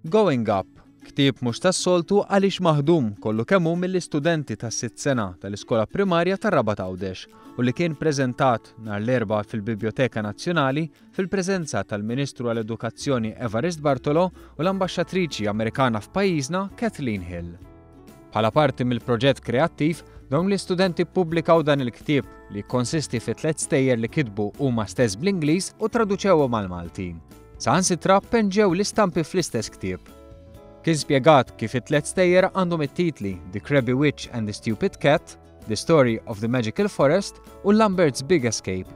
Going Up, ktieb mhux tas-soltu għaliex maħdum kollu kemm hu mill-istudenti tas-sitt sena tal-iskola primarja tar-Rabat Għawdex u li kien preżentat nhar l-erba' fil-Bibjoteka Nazzjonali fil-preżenza tal-Ministru għall-Edukazzjoni Evarist Bartolo u l-Ambaxxatriċi Amerikana f'pajjiżna Kathleen Hill. Bħala parti mill-proġett kreattiv, dawn l-istudenti ppubblikaw dan il-ktieb li jikkonsisti fi tliet stejjer li kitbu huma stess bl-Ingliż u traduċewhom għall-Malti. Saħansitra penġew l-istampi fl-istess ktieb. Kien spjegat kif it-tliet stejjer għandhom it-titli The Crabby Witch and the Stupid Cat, The Story of the Magical Forest u Lambert's Big Escape.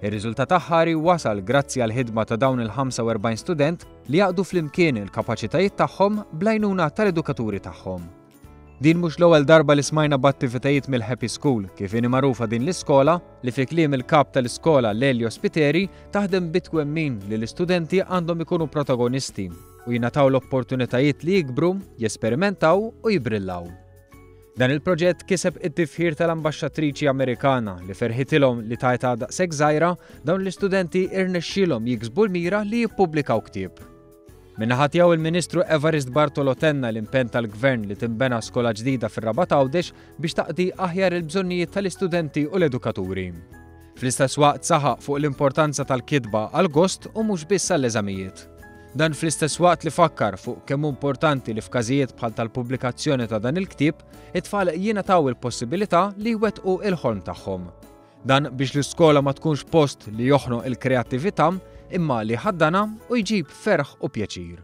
Ir-riżultat aħħari wasal grazzi għal ħidma ta' dawn il-45 student li jaqdu flimkien il-kapaċitajiet tagħhom bl-għajnuna tal-edukaturi tagħhom. Din mhux l-ewwel darba li smajna b'attivitajiet mill-Happy School, kif inhi magħrufa din l-iskola, li fi kliem il-kap tal-iskola Lelio Spiteri taħdem bitwemmin li l-istudenti għandhom ikunu protagonisti u jingħataw l-opportunitajiet li jikbru, jesperimentaw u jibrillaw. Dan il-proġett kiseb it-tifħir tal-Ambaxxatriċi Amerikana li ferħitilhom li tajta daqshekk żgħira dawn l-istudenti irnexxielhom jiksbu l-mira li jippubblikaw ktieb. Min-naħa tiegħu il-Ministru Evarist Bartolo tenna l-impenn tal-Gvern li tinbena skola ġdida fir-Rabat Għawdex biex taqdi aħjar il-bżonnijiet tal-istudenti u l-edukaturi. Fl-istess waqt saħaq fuq l-importanza tal-kitba għall-gost u mhux biss għall-eżamijiet. Dan fl-istess waqt li fakkar fuq kemm hu importanti li f'każijiet bħal tal-pubblikazzjoni ta' dan il-ktieb, it-tfal jingħataw il-possibilità li jwettqu il-ħolm tagħhom. Dan biex l-iskola ma tkunx post li joħnoq il-kreattività imma li jħaddanha u jġib ferħ u pjaċir.